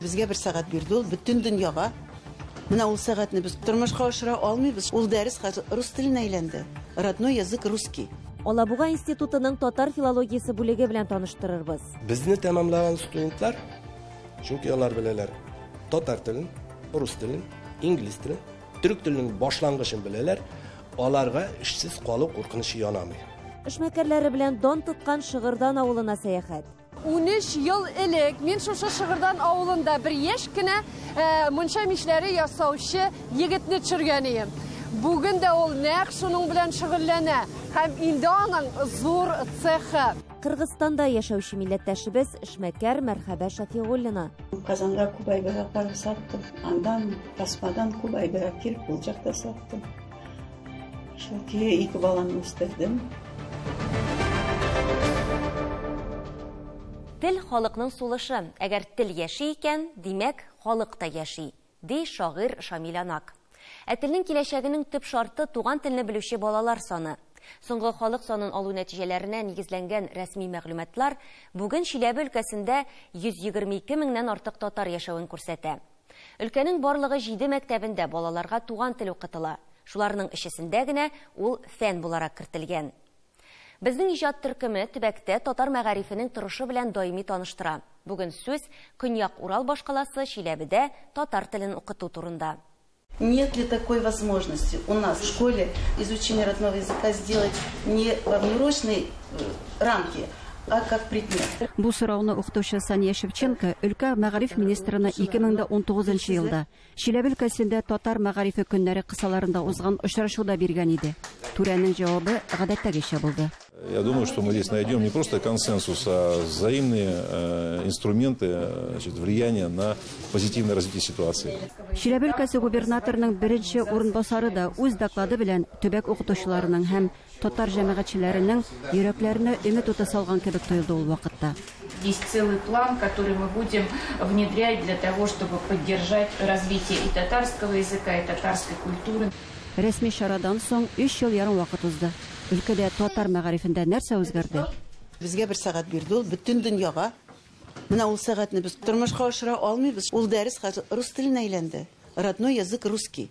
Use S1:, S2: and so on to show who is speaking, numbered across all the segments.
S1: Безгә бер сәгать
S2: бирде ул, бөтен дөньяга. Менә ул сәгатьне без тормышка ашыра алмыйбыз. Ул дәрес хәзер рус теленә әйләнде. Родной язык русский. Алабуга
S1: институтының татар филологиясе бүлеге белән таныштырырбыз. Безне тәмамлаган
S3: студентлар, чөнки алар беләләр татар телен, рус телен, инглиз телен, төрек теленең башлангычын беләләр, аларга эшсез калу куркынычы янамый. Эшмәкәрләре
S1: белән дан тоткан Шыгырдан авылына сәяхәт. Унөч ел
S4: элек мин шушы Шыгырдан авылында бер яшь кенә мунча мичләре ясаучы егетне төшергән ием. Бүген дә ул нәкъ шуның белән шөгыльләнә һәм инде аның зур цехы. Кыргызстанда
S1: яшәүче милләттәшебез эшмәкәр Мәрхәбә Шәфигуллина. Казанга күп
S5: әйберләр саттым. Аннан тасмадан күп әйберләр килеп, кулчак та саттым. Шул көе ике баланы үстердем.
S6: Тел халыкның сулышы. Әгәр тел яши икән, димәк, халык та яши, ди шагыйрь Шамиль Анак. Ә телнең киләчәгенең төп шарты туган телне белүче балалар саны. Соңгы халык санын алу нәтиҗәләренә нигезләнгән рәсми мәгълүматлар бүген Чиләбе өлкәсендә 122 меңнән артык татар яшәвен күрсәтә. Өлкәнең барлыгы җиде мәктәбендә балаларга туган тел укытыла. Шуларның өчесендә генә ул фән буларак кертелгән. Безнең иҗат төркеме төбәктә татар мәгарифенең торышы белән даими таныштыра. Бүген сүз Көньяк Урал башкаласы Чиләбедә татар телен укыту турында. Нет ли
S2: такой возможности у нас в школе изучение родного языка сделать не во внеурочной рамке, а как предмет. Бу сорауны
S7: укытучы Сания Шевченко өлкә мәгариф министрына 2019 елда Чиләбе өлкәсендә татар мәгарифе көннәре кысаларында узган очрашуда биргән иде. Түрәнең җавабы гадәттәгечә булды. Я думаю, что мы
S8: здесь найдем не просто консенсус, а взаимные э, инструменты э, значит, влияния на позитивное развитие ситуации. Чиләбе өлкәсе
S7: губернаторының беренче урынбасары да үз доклады белән төбәк укытучыларының һәм Татар җәмәгатьчеләренең йөрәкләренә өмет уты салган кебек тоелды ул вакытта. Есть целый
S9: план, который мы будем внедрять для того, чтобы поддержать развитие и татарского языка, и татарской культуры. Рәсми чарадан
S7: соң өч ел ярым вакыт узды. Өлкәдә татар мәгарифендә нәрсә үзгәрде? Безгә бер сәгать
S2: бирде ул, бөтен дөньяга. Менә ул сәгатьне без тормышка ашыра алмыйбыз. Ул дәрес хәзер рус теленә әйләнде. Родной язык русский.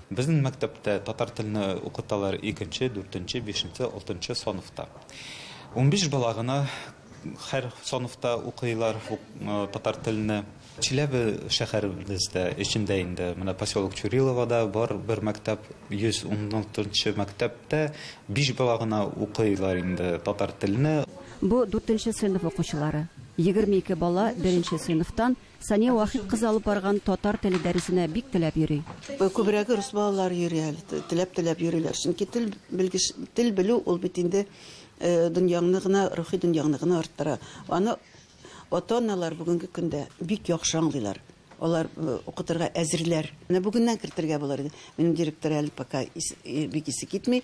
S7: Безнең мәктәптә
S10: татар телне укыталар икенче, дүртенче, бишенче, алтынчы санфта. Унбиш бала гына һәр санфта укыйлар татар телне. Чиләбе шәһәребездә эчендә инде менә поселок Чуриловода бар бер мәктәп, 116 нчы мәктәптә биш бала гына укыйлар инде татар телне. Бу, дүртенче
S7: сыйныф укучылары. Егерме ике бала беренче сыйныфтан Сания Вахит кызы алып барган татар теле дәресенә бик теләп йөри. Күбрәге рус
S2: балалары йөри әле, теләп-теләп йөриләр. Чөнки тел белгеч, тел белү ул бит инде дөньяңны гына, рухи дөньяңны гына арттыра. Аны ата-аналар бүгенге көндә бик яхшы аңлыйлар. Алар укытырга әзерләр. Менә бүгеннән кертергә булыр иде. Минем директор әле пока бик исе китми.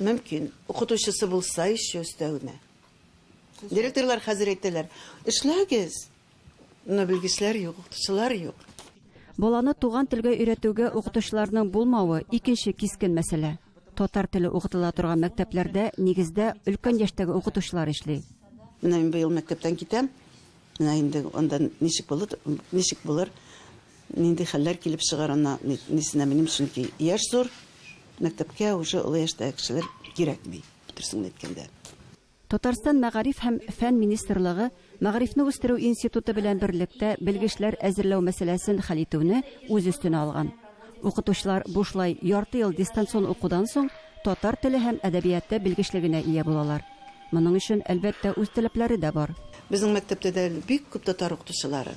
S2: Мөмкин, укытучысы булса еще өстәвенә. Директорлар хәзер әйтәләр, эшләгез, но белгечләр юк, укытучылар юк. Баланы
S7: туган телгә өйрәтүгә укытучыларның булмавы икенче кискен мәсьәлә. Татар теле укытыла торган мәктәпләрдә нигездә өлкән яшьтәге укытучылар эшли. Менә мин быел
S2: мәктәптән китәм. Менә инде анда ничек булыр, ничек булыр? Нинди хәлләр килеп чыгар ана нисенә минем, чөнки яшь зур, мәктәпкә уже олы яшьтәге кешеләр кирәкми, дөресен әйткәндә. Татарстан
S7: Мәгариф һәм фән министрлыгы Мәгарифне үстерү институты белән берлектә белгечләр әзерләү мәсьәләсен хәл итүне үз өстенә алган. Укытучылар бушлай ярты ел дистанцион укудан соң татар теле һәм әдәбияты белгечлегенә ия булалар. Моның өчен, әлбәттә, үз таләпләре дә бар. Безнең мәктәптә дә
S2: әле бик күп татар укытучылары.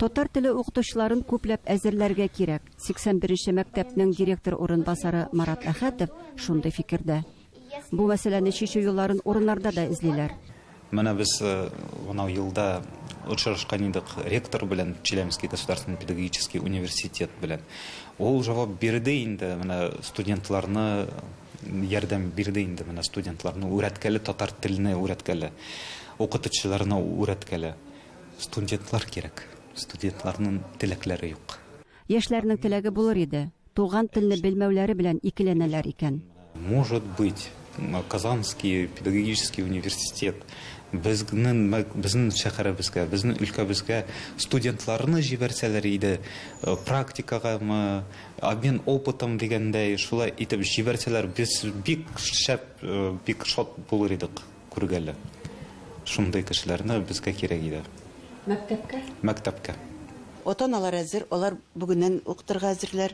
S2: Татар теле
S7: укытучыларын күпләп әзерләргә кирәк. 81 нче мәктәпнең директор урынбасары Марат Әхәтов шундый фикердә. Бу мәсьәләне чишү юлларын урыннарда да эзлиләр. Менә без
S10: бынау елда очрашкан идек ректор белән, Челябинский государственный педагогический университет белән. Ул җавап бирде инде, менә студентларны ярдәм бирде инде, менә студентларны үрәткәле татар теленә үрәткәле, укытучыларына үрәткәле. Студентлар кирәк. Студентларның теләкләре юк. Яшьләрнең теләге
S7: булыр иде. Туган телне белмәүләре белән икеләнәләр икән. Может быть,
S10: Казанский педагогический университет безнең безнең шәһәребезгә, безнең өлкәбезгә студентларны җибәрсәләр иде, практикагамы, обмен опытом дигәндәй, шулай итеп җибәрсәләр, без бик шәп, бик шат булыр идек. Күргәле. Шундый кешеләрне безгә кирәк иде. Мәктәпкә? Мәктәпкә.
S2: Ата-аналар әзер, алар бүгеннән укытырга әзерләр,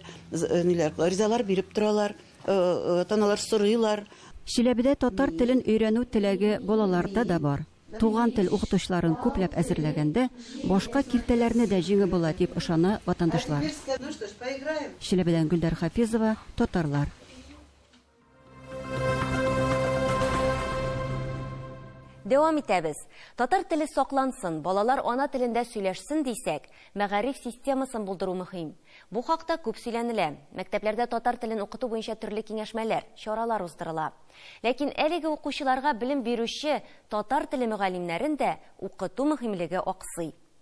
S2: ниләр, гаризалар биреп торалар, ата-аналар сорыйлар. Чиләбедә татар
S7: телен өйрәнү теләге балаларда да бар. Туган тел укытучыларын күпләп әзерләгәндә, башка киртәләрне дә җиңеп була, дип ышана ватандашлар. Чиләбедән Гөлдәр Хафизова, Татарлар.
S6: Дәвам итәбез. Татар теле саклансын, балалар ана телендә сөйләшсен дисәк, мәгариф системасын булдыру мөһим. Бу хакта күп сөйләнелә. Мәктәпләрдә татар телен укыту буенча төрле киңәшмәләр, чаралар уздырыла. Ләкин әлеге укучыларга белем бирүче татар теле мөгаллимнәрен дә укыту мөһимлеге аксый.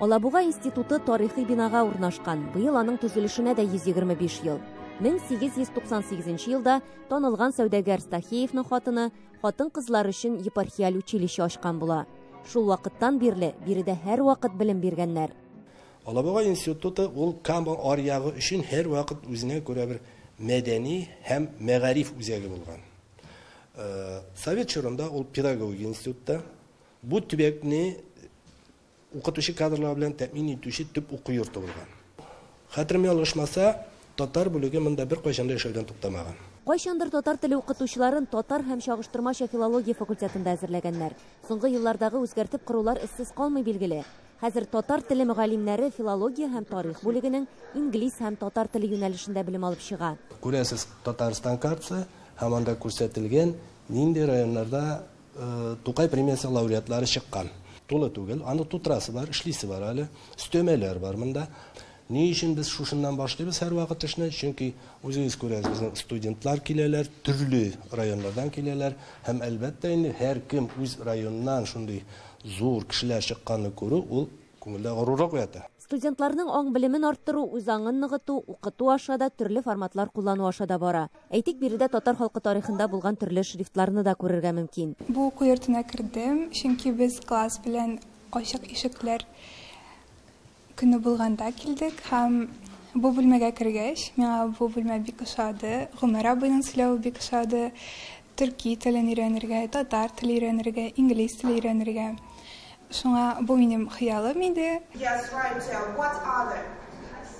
S1: Алабуга институты тарихи бинага урнашкан, быел аның төзелешенә дә 125 ел. 1898 елда танылган сәүдәгәр Стахеевның хатыны хатын-кызлар өчен епархиаль училище ачкан була. Шул вакыттан бирле биредә һәрвакыт белем биргәннәр. Алабуга
S3: институты ул Кама аръягы өчен һәрвакыт үзенә күрә бер мәдәни һәм мәгариф үзәге булган. Совет чорында ул педагогия институты да бу төбәкне Укытучы кадрлар белән тәэмин итүче төп уку йорты булган. Хәтерем ялгышмаса, татар бүлеге монда беркайчан да эшләүдән туктамаган. Кайчандыр татар
S1: теле укытучыларын татар һәм чагыштырмача филология факультетында әзерләгәннәр. Соңгы еллардагы үзгәртеп корулар эзсез калмый, билгеле. Хәзер татар теле мөгаллимнәре филология һәм тарих бүлегенең инглиз һәм татар теле юнәлешендә белем алып чыга. Күрәсез, Татарстан
S3: картасы һәм анда күрсәтелгән, нинди районнарда Тукай премиясе лауреатлары чыккан. Тулы түгел, аны тутрасы бар, эшлисе бар әле, өстәмәләр бар монда. Ни өчен без шушыннан башлыйбыз һәрвакыт эшне? Чөнки үзегез күрәсез, безнең студентлар киләләр, төрле районнардан киләләр һәм әлбәттә инде һәркем үз районыннан шундый зур кешеләр чыкканны күрү ул Күңелдә горурлык уята. Студентларның аң
S1: белемен арттыру, үз аңын ныгыту, укыту аша да, төрле форматлар куллану аша да бара. Әйтик, биредә татар халкы тарихында булган төрле шрифтларны да күрергә мөмкин. Бу уку йортына
S11: кердем, чөнки без класс белән Ачык ишекләр көне булганда килдек һәм бу бүлмәгә кергәч, миңа бу бүлмә бик ошады. Гомәр абыйның сөйләве бик ошады. төрки телен өйрәнергә, татар теле өйрәнергә, инглиз теле өйрәнергә. Шуңа бу минем хыялым иде. Yes, right, yeah. What other?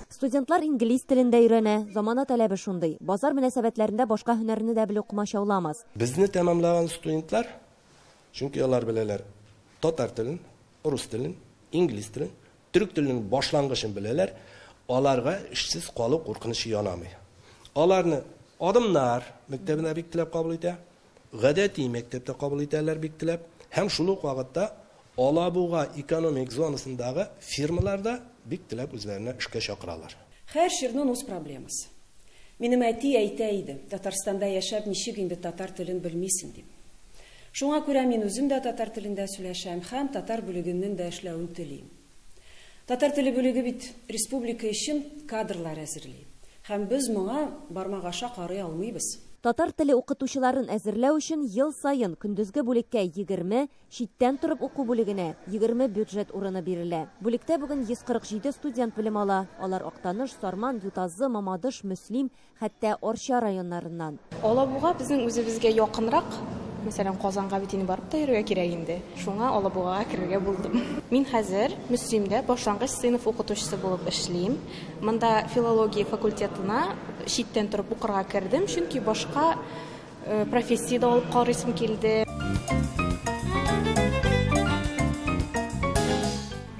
S1: Студентлар инглиз телен дә өйрәнә, замана таләбе шундый. Базар мөнәсәбәтләрендә башка һөнәрне дә белү комачауламас. Безне тәмамлаган
S3: студентлар, чөнки алар беләләр татар телен, Рус телен, инглиз телен, төрек теленең башлангычын беләләр, аларга эшсез калу куркынычы янамый. Аларны Адымнар мәктәбенә бик теләп кабул итә, гадәти мәктәптә кабул итәләр бик теләп, һәм шул ук вакытта Алабуга экономик зонасындагы фирмалар да бик теләп үзләренә эшкә чакыралар. Хәер, чирнун
S12: үз проблемасы. Минем әти әйтә иде, Татарстанда яшәп, ничек инде татар телен белмисең, дип. Шуңа күрә мин үзем дә татар телендә сөйләшәм һәм татар бүлегеннен дә эшләвен телим. Татар теле бүлеге бит республика өчен кадрлар әзерли һәм без моңа бармак аша карый алмыйбыз. Татар теле
S1: укытучыларын әзерләү өчен ел саен көндезге бүлеккә егерме, читтән торып уку бүлегенә, егерме бюджет урыны бирелә. Бүлектә бүген 147 студент белем ала, алар Актаныш, Сарман, Ютазы, Мамадыш, Мөслим, Хәтта Арча районнарыннан. Алабуга безнең
S13: үзебезгә якынрак. Мәсәлән, Казанга бит инде барып та йөрергә кирәк инде. Шуңа Алабугага керергә булдым. Мин хәзер Мөслимдә башлангыч сыйныф укытучысы булып эшлим. Монда филология факультетына читтән торып укырга кердем, чөнки башка Э, профессия дә алып карыйсым килде.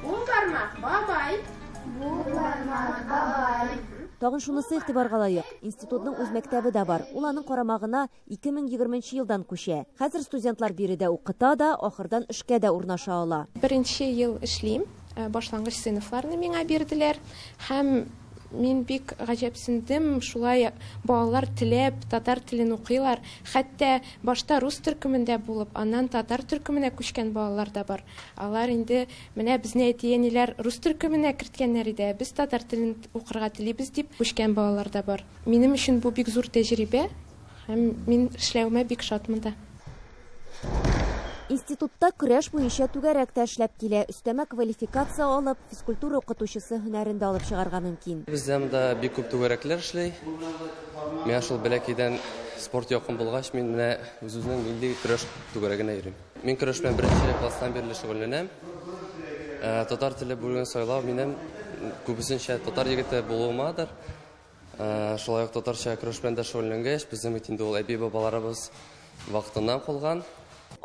S13: Уң бармак
S1: бабай. Бу бармак бабай. Тагын шунысы игътибарга лаек. Институтның үз мәктәбе дә бар. Ул аның карамагына 2020 елдан күчә. Хәзер студентлар биредә укыта да, ахырдан эшкә дә урнаша ала. Беренче ел
S13: эшлим. Э, башлангыч сыйныфларны миңа бирделәр һәм Мин бик гаҗәпсендем, шулай балалар теләп татар телен укыйлар, хәтта башта рус төркемендә булып, аннан татар төркеменә күчкән балалар да бар. Алар инде, менә безне әти-әниләр рус төркеменә керткәннәр иде, ә без татар телен укырга телибез дип күчкән балалар да бар. Минем өчен бу бик зур тәҗрибә. Һәм мин эшләвемә бик шатмын да.
S1: Институтта көрәш буенча түгәрәк тә эшләп килә. Өстәмә квалификация алып, физкультура укытучысы һөнәрен дә алып чыгарга мөмкин. Бездә монда бик күп
S14: түгәрәкләр эшли. Миңа шул бәләкәйдән спорт якын булгач, мин менә үзебезнең милли көрәш түгәрәгенә йөрим. Мин көрәш белән беренче класстан бирле шөгыльләнәм. Татар теле бүлеген сайлау минем күбесенчә татар егете булуымадыр. Шулай ук татарча көрәш белән дә шөгыльләнгәч, безнең бит инде ул әби-бабаларыбыз вакытыннан калган.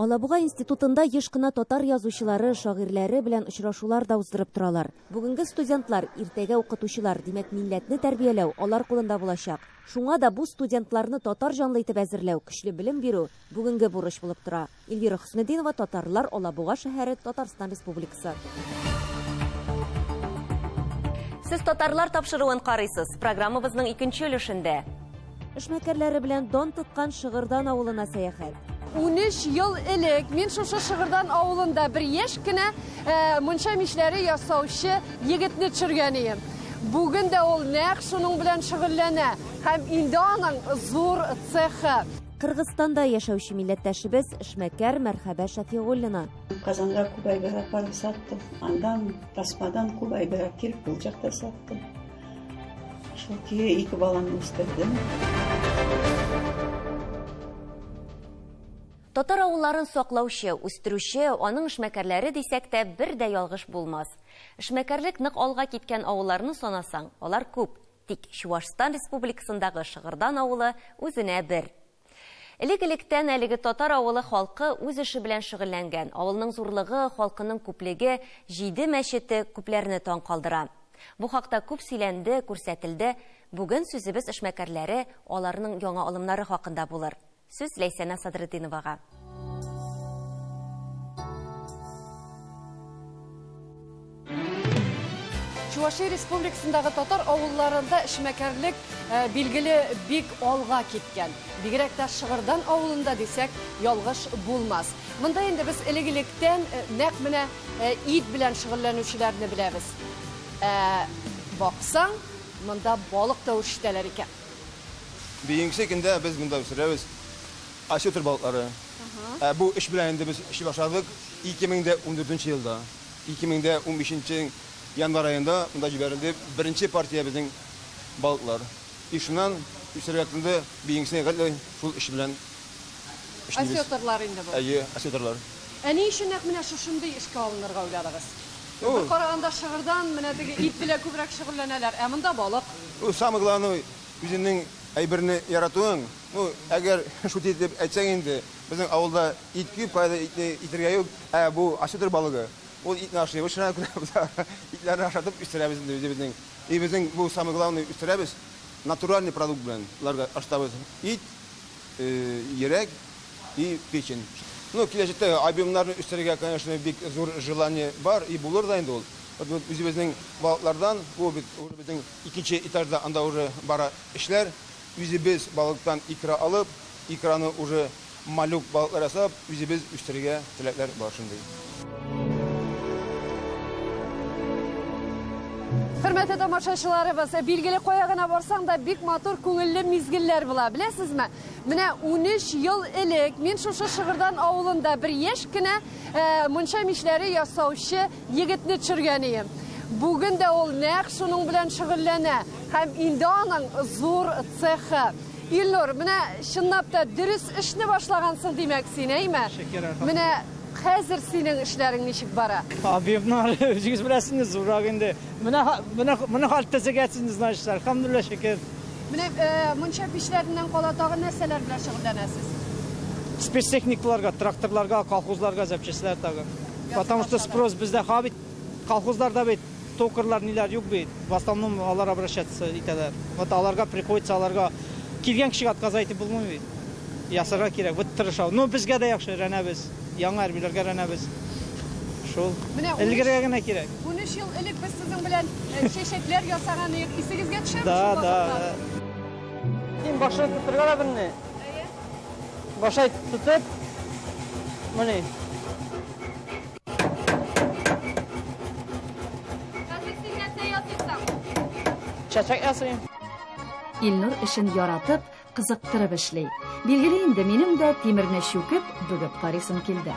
S14: Алабуга
S1: институтында еш кына татар язучылары, шагыйрьләре белән очрашулар да уздырып торалар. Бүгенге студентлар, иртәгә укытучылар, димәк, милләтне тәрбияләү алар кулында булачак. Шуңа да бу студентларны татар җанлы итеп әзерләү, көчле белем бирү, бүгенге бурыч булып тора. Эльвира Хөснетдинова, Татарлар, Алабуга шәһәре, Татарстан Республикасы.
S6: Сез татарлар тапшыруын карыйсыз. Программабызның икенче өлешендә. Эшмәкәрләре
S1: белән дан тоткан Шыгырдан авылына сәяхәт. 13 ел
S4: элек мин шушы Шыгырдан авылында бер яшь кенә э, мунча мишләре ясаучы егетне төшергән идем. Бүген дә ул нәкъ шуның белән шөгыльләнә һәм инде аның зур цехы. Кыргызстанда
S1: яшәүче милләттәшебез эшмәкәр Мәрхәбә Шәфигуллина. Казанга күп
S5: әйбер апарып саттым. Андан тасмадан күп әйбер әкелеп булчак та саттым. Шул көе ике баланы үстердем.
S6: Татар авылларын саклаучы, үстерүче, аның эшмәкәрләре дисәк тә бер дә ялгыш булмас. Эшмәкәрлек нык алга киткән авылларны санасаң, алар күп. Тик Чуашстан Республикасындагы Шыгырдан авылы үзенә бер. Элек-электән әлеге татар авылы халкы үз эше белән шөгыльләнгән. Авылның зурлыгы, халкының күплеге, җиде мәчете күпләрне таң калдыра. Бу хакта күп сөйләнде, күрсәтелде. Бүген сүзебез эшмәкәрләре, аларның яңа алымнары хакында булыр. Сүз Ләйсәнә Садретдиновага.
S4: Чувашия республикасындагы татар авылларында эшмәкәрлек э, билгеле бик алга киткән. Бигрәк тә Шыгырдан авылында дисәк, ялгыш булмас. Монда инде без элек-электән э, нәкъ менә э, ит белән шөгыльләнүчеләрне беләбез. Ә баксаң, монда балык та үрчетәләр икән.
S15: Бигенче көндә без монда үстерәбез осетр балыклары. Ә бу эш белән инде без эшли башладык 2014 елда. 2015 январь аенда монда җибәрелде беренче партия безнең балыклар. И шуннан үстерергә тотынды, бигенче гел шул эш белән
S4: Осетрлар инде бу. Әйе, осетрлар. Ә ни
S15: өчен
S4: нәкъ менә шушындый эшкә алынырга уйладыгыз? Бер караганда шыгырдан менә теге ит белән күбрәк шөгыльләнәләр, ә монда балык. Ну, самое
S15: главное, үзеңнең әйберне яратуың. Ну, әгәр шутить итеп әйтсәң инде, безнең авылда ит күп, кайда итне итергә юк. Ә бу осетр балыгы, ул итне ашый. Вот шуңа күрә без итләрне ашатып үстерәбез инде үзебезнең. Өебезнең бу самое главное үстерәбез. Натуральный продукт белән боларга ашатабыз. Ит. йөрәк и печень. Ну киләчәктә альбомнарны үстерергә конечно бик зур желание бар и булыр да инде ул. Вот үзебезнең балыклардан бу бит уже безнең икенче этажда анда уже бара эшләр. Үзебез балыктан икра алып, икраны уже малюк балыклар ясап, Үзебез үстерергә теләкләр бар шундый.
S4: Хөрмәтле тамашачыларыбыз, билгеле кая гына барсаң да бик матур күңелле мизгелләр була. Беләсезме? Менә 13 ел элек мин шушы Шыгырдан авылында бер яшь кенә э, мунча мичләре ясаучы Егетне төшергәнием. Бүген дә ул нәкъ шуның белән шөгыльләнә һәм инде аның зур цехы. Илнур, менә чынлап та дөрес эшне башлагансың, димәк, син, әйме? Менә хәзер синең эшләрең ничек бара? Объектны
S16: үзегез беләсез, зуррак инде. Менә менә менә хат төзегәсез, значит, әлхәмдулилла шөкер. Менә э,
S4: мунча пичләреннән кала тагы нәрсәләр белән шөгыльләнәсез?
S16: Спецтехникаларга, тракторларга, колхозларга запчастьләр тагы. Потому что спрос бездә ха бит, колхозларда бит токарьлар ниләр юк бит. В основном алар обращаться итәләр. Вот аларга приходится аларга килгән кешегә отказ әйтеп булмый бит. Ясарга кирәк, вот тырыша. Но безгә дә яхшы рәнәбез. Яңа әрбиләргә рәнәбез. Шул. Менә ун өч- Элгергә генә кирәк. 13 ел элек без
S4: сезнең белән э, чәчәкләр ясаган идек. Исегезгә төшәме Да, шул да. вакытлар?
S16: Син башына тотырга да белми. Башай тотып, мене. Чәчәк ясыйм. Илнур
S17: эшен яратып, кызыктырып эшли. Билгеле инде, минем дә тимерне чүкеп, бүгеп карыйсым килде.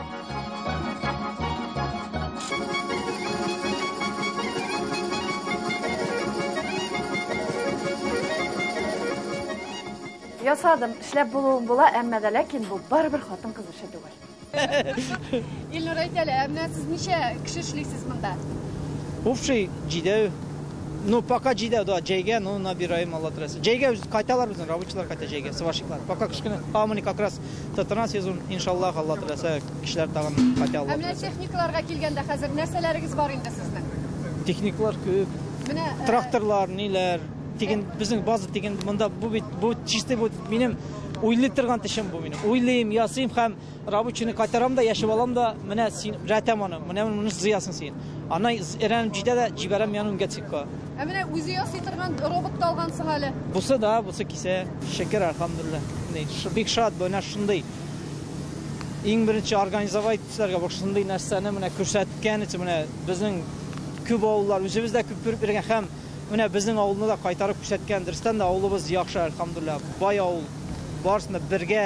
S18: Ясадым, эшләп булуын була, әмма дә ләкин бу барыбер хатын-кыз эше түгел. Илнур әйтәле,
S4: ә менә сез ничә кеше эшлисез монда? Общий
S16: җидәү. Ну, пока җидәү, да, җәйгә, ну, набираем Алла теләсә. Җәйгә үз кайталар безнең рабочилар кайта җәйгә, сварщиклар. Пока кечкенә, а мы как раз татарна сезон, иншаллах, Алла теләсә, кешеләр тагын кайта Алла теләсә. Ә менә техникаларга
S4: килгәндә хәзер нәрсәләрегез бар инде сезнең? Техникалар
S16: күп. Менә э, тракторлар, ниләр? Диген безнең база диген монда бу бит бу чисты бу минем уйлый торган тешем бу минем. Уйлыйм, ясыйм һәм рабочийны кайтарам да, яшәп алам да, менә син рәтәм аны, менә моны зыясың син. Ана эрәнеп җитә дә җибәрәм яны үнгәтсеккә. Ә менә үзе ясый
S4: торган робот та алгансың әле. Бусы да, бусы
S16: кисә. Шөкер, альхамдулилла. Бик шат бу, менә шундый иң беренче организовать эшләргә бу шундый нәрсәне менә күрсәткән өчен менә безнең күп авыллар үзебездә күп күреп йөргән һәм Менә безнең авылны да кайтарып күрсәткән. Дөрестән дә авылыбыз яхшы, әлхәмдуллиһ. Бай авыл. Барысын да бергә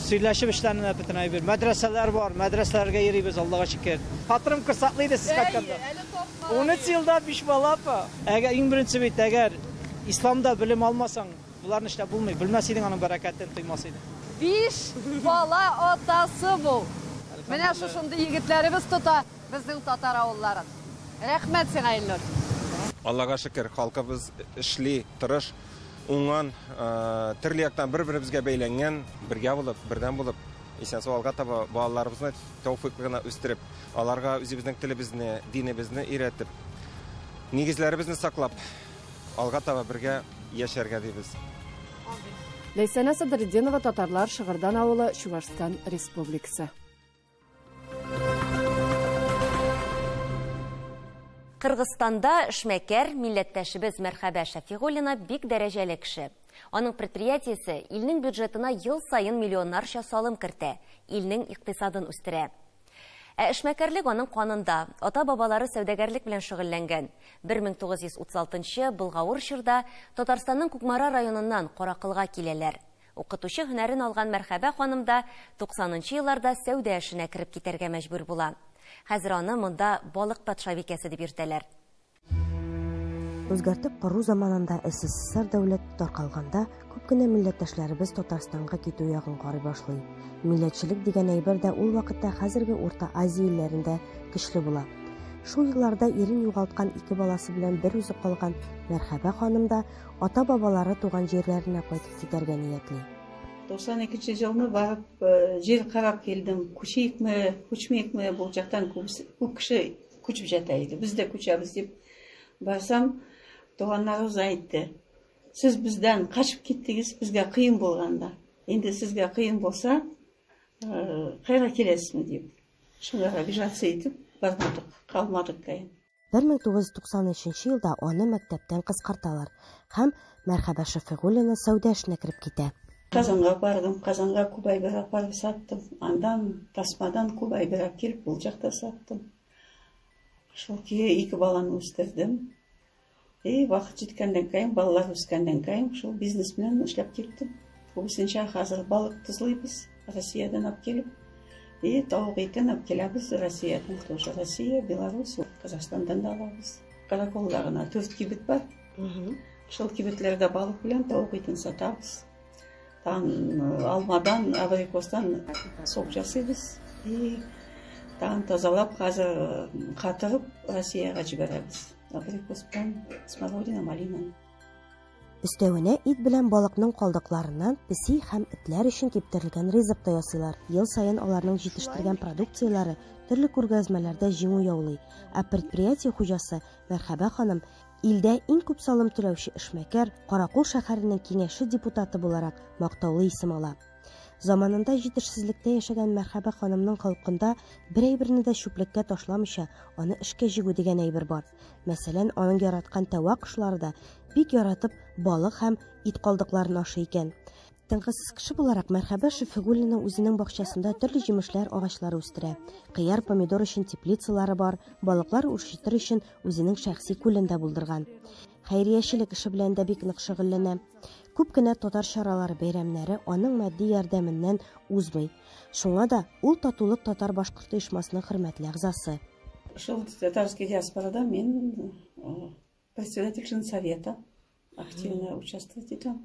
S16: сөйләшеп эшләнә дә бөтен әйбер. Мәдрәсәләр бар, мәдрәсәләргә йөрибез, Аллага шөкер. Хатырым корсаклы иде сез кайтканда. Әйе, әле тапма. Унөч елда биш бала апа. Әгәр, иң беренче бит, әгәр исламда белем алмасаң, боларны эшләп булмый. Белмәс идең, аның бәрәкәтен тоймас идең. Биш
S4: бала атасы бу. Менә шушындый егетләребез тота. Безнең татар авылларын. Рәхмәт сиңа Ильнур. Аллага
S19: шөкер, халкыбыз эшли, тырыш, уңган, төрле яктан бер-беребезгә бәйләнгән, бергә булып, бердәм булып, исән-сау алга таба балаларыбызны тәүфыйклы гына үстереп, аларга үзебезнең телебезне, динебезне өйрәтеп, нигезләребезне саклап, алга таба бергә яшәргә дибез.
S18: Ләйсәнә Садретдинова, Татарлар, Шыгырдан авылы, Чувашстан Республикасы.
S6: Кыргызстанда эшмәкәр, милләттәшебез Мәрхәбә Шәфигуллина бик дәрәҗәле кеше. Аның предприятиесе илнең бюджетына ел саен миллионнарча салым кертә, илнең икътисадын үстерә. Ә эшмәкәрлек аның канында. Ата-бабалары сәүдәгәрлек белән шөгыльләнгән. 1936 нчы былгавыр чорда Татарстанның Кукмара районыннан Каракылга киләләр. Укытучы һөнәрен алган Мәрхәбә ханым да туксанынчы елларда сәүдә эшенә кереп китәргә мәҗбүр була. Хәзер аны монда Балык патшабикәсе дип йөртәләр.
S20: Үзгәртеп кору заманында СССР дәүләте таркалганда, күп кенә милләттәшләребез Татарстанга китү ягын карый башлый. Милләтчелек дигән әйбер дә ул вакытта хәзерге Урта Азия илләрендә көчле була. Шул елларда ирен югалткан ике баласы белән берүзе калган Мәрхәбә ханым да ата-бабалары туган җирләренә кайтып китәргә ниятли. 92 нче
S5: елны барып җир карап килдем. Күчиекме, күчмиекме, бу жактан күп кеше күчеп жата иде. Без дә күчәбез дип барсам, туганнарыбыз әйтте. Сез бездән качып киттегез, безгә кыен булганда. Инде сезгә кыен булса, кайра киләсезме дип. Шуңа обижаться итеп бармадык, калмадык кайын.
S20: 1993 елда аны мәктәптән кыскарталар һәм Мәрхәбә Шәфигуллина сәүдә эшенә кереп китә. Казанга бардым,
S5: Казанга күп әйбер апарып саттым. Андан тасмадан күп әйбер әкелеп ул җакта саттым. Шул көе ике баланы үстердем. И вакыт җиткәннән кәен, балалар үскәннән кәен, шул бизнес белән эшләп киттем. Күбесенчә хәзер балык тозлыйбыз Россиядән алып килеп. И тавык итен алып киләбез Россиядән, тоже Россия, Беларусь, Казахстандан да алабыз. Караколда гына дүрт кибет бар. Шул кибетләрдә балык белән тавык итен сатабыз. Там э, алмадан, абрикостан сок жасыйбыз. И там тазалап хәзер э, катырып Россиягә җибәрәбез.
S20: Өстәвенә ит белән балыкның калдыкларыннан песи һәм этләр өчен киптерелгән ризык та ясыйлар. Ел саен аларның җитештергән продукцияләре төрле күргәзмәләрдә җиңү яулый. Ә предприятие хуҗасы Мәрхәбә ханым, илдә иң күп салым түләүче эшмәкәр, Каракул шәһәренең киңәше депутаты буларак мактаулы исем ала. Заманында җитешсезлектә яшәгән Мәрхәбә ханымның халкында бер әйберне дә чүплеккә ташламыйча, аны эшкә җигү дигән әйбер бар. Мәсәлән, аның яраткан тәва кошлары да бик яратып балык һәм ит калдыкларын ашый икән. Тынгысыз кеше буларак Мәрхәбә Шөфигуллина үзенең бакчасында төрле җимешләр агачлары үстерә. Кыяр, помидор өчен теплицалары бар, балыклар үрчетер өчен үзенең шәхси күлен дә булдырган. хәйриячелек эше белән дә бик нык шөгыльләнә. Күп кенә татар чаралары бәйрәмнәре аның матди ярдәменнән узмый. Шуңа да ул Татулык татар-башкорт оешмасының хөрмәтле әгъзасы. Шул
S5: татарский диаспорада мин председатель совета активно участвовать итәм.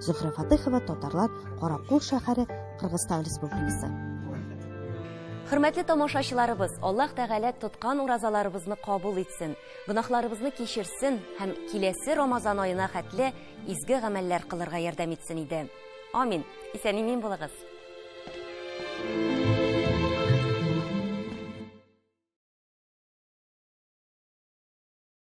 S20: Зөһрә Фатыхова, татарлар, Каракул шәһәре, Кыргызстан Республикасы.
S6: Хөрмәтле тамашачыларыбыз, Аллаһ Тәгалә тоткан уразаларыбызны кабул итсен, гөнаһларыбызны кичерсен һәм киләсе Рамазан аена хәтле изге гамәлләр кылырга ярдәм итсен иде. Амин. Исән-имин булыгыз.